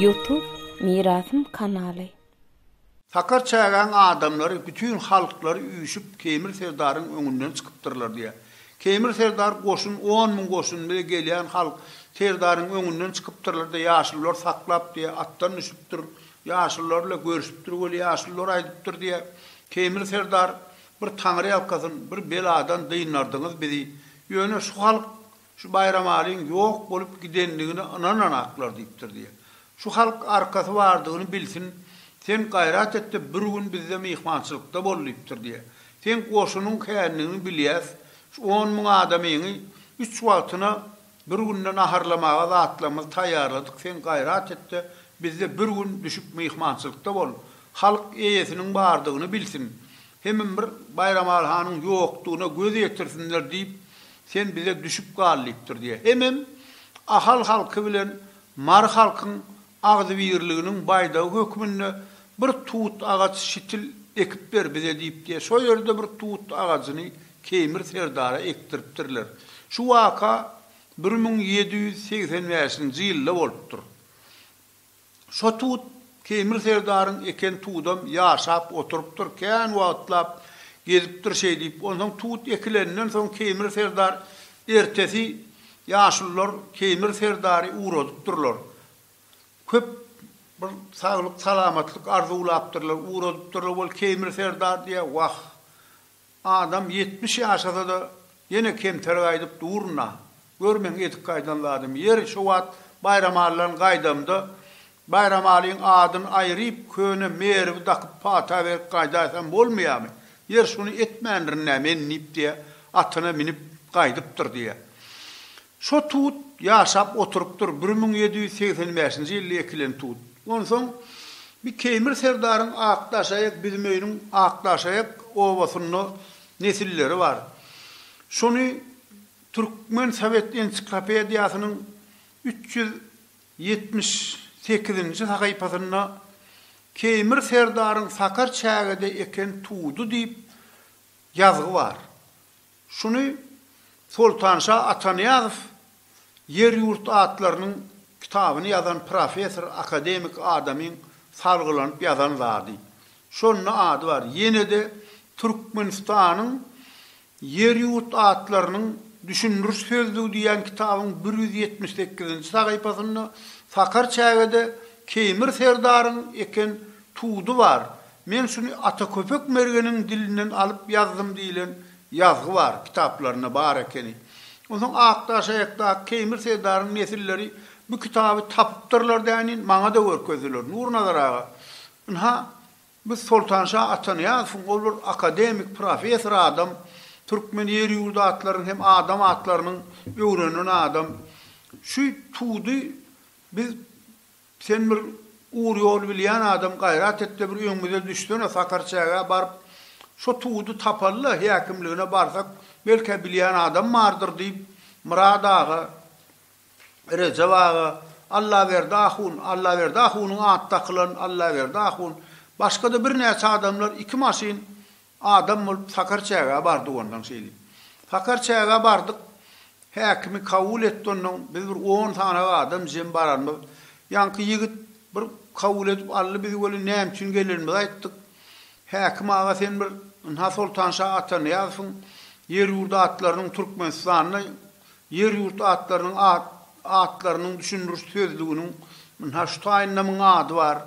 Youtube Mirasym kanaly. Sakar çägäň adamlary bütin halklary üýşüp Keýmir serdaryň öňünden çykypdyrlar diýýär. Keýmir serdar goşun on müň goşun bilen gelýän halk serdaryň öňünden çykypdyrlar-da ýaşulular saklap diýýär atdan düşüpdir Ýaşulylar bile görüşipdir weli ýaşulylar aýdypdyr diýä. Teýmir serdar bir taňry ýalkasyn bir beladan dyndardyňyz bizi. Ýöne şu halk şu Baýramalyň ýok bolup gidendigine ynananaklar diýipdir diýä. Şu halk arkasy bardygyny bilsin sen gaýrat etde bir gün bizde myhmançylykda bol diýipdir diýä. Seň goşunyň kändigini bilýäs şu on müň adamyňy üç wagtyna Bir günde naharlamaga zatlarymyzy taýýarladyk, sen gaýrat et-de, bizde bir gün düşüp myhmançylykda bol. Halk eýesiniň bardygyny bilsin. Hemem bir Baýramaly hanyň ýokdugyna göz ýetirsinler diýip, sen bize düşüp gal diýipdir diýýär. Hemem Ahal halky bilen Mary halkyň Agzybirliginiň baýdagy hökmünde bir tut agaç şitil ekip ber bize diýip diýe şo ýerde bir tut agajyny Keýmir serdara ekdiripdirler. Şu waka bir müň ýedi ýüz segsen bäşinji ýylda bolupdyr. Şo tut Keýmir serdaryň eken tudam ýaşap oturypdyr, kän wagtlap gezipdir şeýdip. Onsoň tut ekilenden soň Keýmir serdar ertesi Ýaşulular Teýmir serdary ugradypdyrlar. Köp bir saglyk salamatlyk arzuwlapdyrlar, ugradypdyrlar wol Teýmir serdar diýýär, wah, adam ýetmiş ýaşasada ýene kemter gaýdyp durun-a, gör meň edip gaýdan zadymy, ýeri şo wagt Baýramallaň gaýdamda Baýramalyň adyny aýryp, köne merwi dakyp pata berip gaýdaýsam bolmaýamy? Ýer şuny etmändirin-dä men diýip diýýär, atyna minip gaýdypdyr diýýär. Şo tut ýaşap oturypdyr, bir müň ýedi ýüz segsen bäşinji ýylda ekilen tut. Onsoň bir Keýmir serdaryň Akdaşaýak biziň öýüniň Akdaşaýak obasynda nesilleri bar. Şony Türkmen sowet ensiklopediýasynyň üç ýüz Ýetmiş sekizinji sahypasynda Keýmir serdaryň Sakar çägede eken tudy diýip ýazgy bar. Şuny Soltanşa Atanyýazow Ýer-ýurt atlarynyň kitabyny ýazan professor akademik adamyň salgylanyp ýazan zady. Şonda ady bar. Ýene-de Türkmenistanyň Ýer-ýurt atlarynyň düşündiriş sözlügi diýen kitabyň bir ýüz ýetmiş sekizinji sahypasynda Sakar çägede Keýmir serdaryň eken tudy bar, men şuny Ataköpek mergeniň dilinden alyp ýazdym diýlen ýazgy bar, kitaplarynda bar ekeni. Onsoň Akdaşaýakdaky Keýmir serdaryň nesilleri bu kitaby tapypdyrlar dänin, maňa-da görkezdiler. Nurnazar aga, ynha, Biz Soltanşa Atanyýazowyň ol bir akademik, professor adam, türkmen ýer-ýurt atlarynyň hem adam atlarynyň öwrenen adam. Şu tudy biz Sen bir ugur-ýol bilýän adam, gaýrat et-de bir öňümize düşsene, Sakarçägä baryp, şo tudy tapaly-da, häkimligine barsak, belkä bilýän adam bardyr diýip, Myrat aga Rejep aga, Allaberdi ahun, Allaberdi ahunyň at dakylan Allaberdi ahun, başga-da birnäçe adamlar iki maşyn adam bolup Sakar çägä bardyk ondan şeýle. Sakar çägä bardyk, häkimi kabul etdi ondan, biz bir on sanaga adam jem baranymyz, ýaňky ýigit bir kabul edip aldy bizi welin näme üçin gelenimizi aýtdyk. Häkim aga sen bir ynha Soltanşa Atanyýazowyň ýer-ýurt atlarynyň Türkmenistanda Ýer-ýurt atlarynyň atlarynyň düşündiriş sözlüginiň ynha şu taýynda myň ady bar.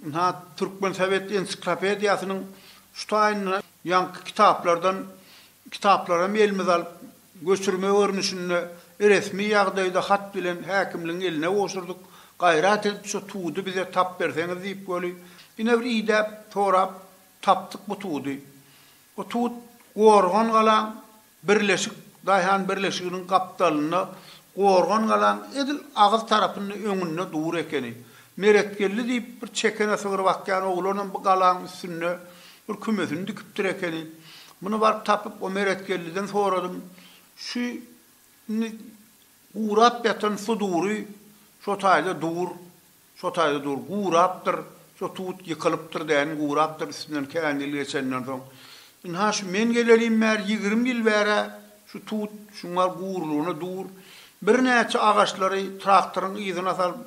Ynha Türkmen sowet ensiklopediýasynyň şu taýynda ýaňky kitaplardan kitaplaram elimize alyp, göçürme görnüşinde resmi ýagdaýda hat bilen häkimligiň eline gowşurdyk. Gaýrat edip şu tudy bize tap berseňiz diýip weli, ine bir idäp, sorap tapdyk bu tudy. Bu tut Gorgan galaň Birleşik daýhan birleşiginiň gapdalynda gorgan galaň edil agyz tarapynda öňünde dur ekeni. Meretgeldi diýip bir çekene sygyr bakýan oglanam bu galaň üstünde bir kümesini dikipdir ekeni. Muny baryp tapyp o Meretgeldiden soradym. Şu indi gurap ýatan sudury şo taýda dur. Şo taýda dur, gurapdyr, şo tut ýykylypdyr däni, gurapdyr, üstünden kän ýyl geçenden soň. Ynha, şu men gelelim bäri ýigrimi ýyl bäri-ä şu tut şuňňar gurulygyna dur. Birnäçe agaçlary traktoryň yzyna salyp,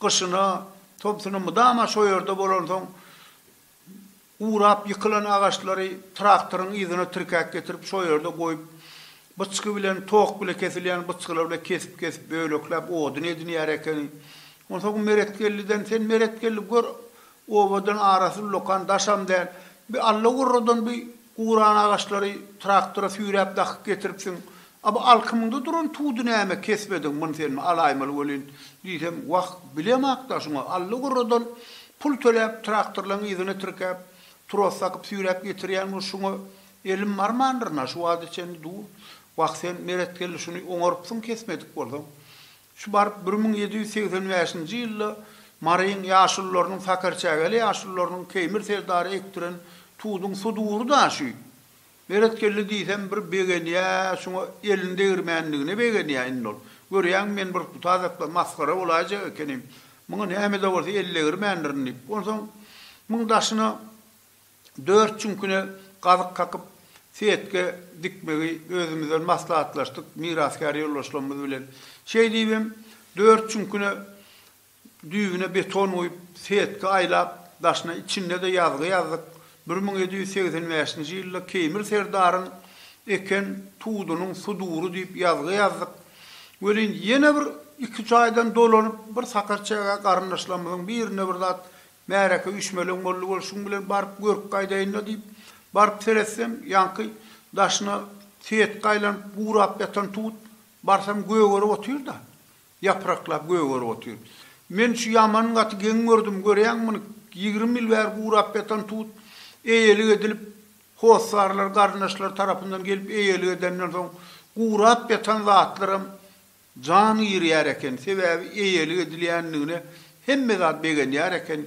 gyşyna, tomsuna mydama şo ýerde bolansoň, Gurap ýykylan agaçlary traktoryň yzyna tirkäp getirip şo ýerde goýup, byçgy bilen, tok bile kesilýän byçgylar bilen kesip-kesip, bölekläp odun edinýär ekeni. Onsoň Meretgelliden, Sen, Meretgeldi, gör, obadan arasy ullakan daşam däl. Bir Alla gurradan bir Guran agaçlary traktora süýräp dakyp getiripsiň. A bu alkymyňda duran tudy näme kesmediň, muny sen alaýmaly welin, diýsem, wah, bilemok-da, şuňa Alla gurradan pul töläp, traktorlaryň yzyna tirkäp, tros dakyp süýräp getirýän bul, şuňa elim barmandyr-na, şu wagta çenli dur. Wah, sen, Meretgeldi, şuny oňarypsyň kesmedik bolsaň. Şu baryp bir müň ýedi ýüz segsen bäşinji ýylda Maryň ýaşulularynyň sakarçägeli ýaşulularynyň Keýmir serdary ekdiren tuduň sudury da şü. Beretgeldi diýsem bir begenýä şuňa elini degirmänligine begenýä indi ol. Görýäňmi men bir putazakda masgara bolaýjak ekenim. Muňa nämede bolsa el degirmändirin diýip. Onsoň muň daşyna Dört çüňküne gazyk kakyp, setge dikmegi özümizden maslahatlaşdyk mirasgär ýoldaşlarymyz bilen. Şeý diýibem, dört çüňküne düýbüne beton guýup, setge aýlap, daşyna içinde-de ýazgy ýazdyk, Bir müň ýedi ýüz segsen bäşinji ýylda Keýmir serdaryň eken tudunyň sudury diýip ýazgy ýazdyk. Welin, ýene bir iki jaýdan dolanyp, bir sakarçäge garyndaşlarymyzyň birine bir zat Märeke üýşmeleň boldy bolşuň bilen baryp görüp gaýdaýyn-da diýip, baryp seretsem, ýaňky daşyna setge aýlanyp, gurap ýatan tut, barsam gögerip otyr-da. Ýapraklap gögerip otyr. Men şu ýaman gaty geň gördüm, görýäňmi muny, ýigrimi ýyl bäri gurap ýatan tut, eýelik edilip, hossarlar, garyndaşlar tarapyndan gelip eýelik edenden soň, gurap ýatan zatlaram Jan girýär eken, sebäbi eýelik edilýändigine hemme zat begenýär eken.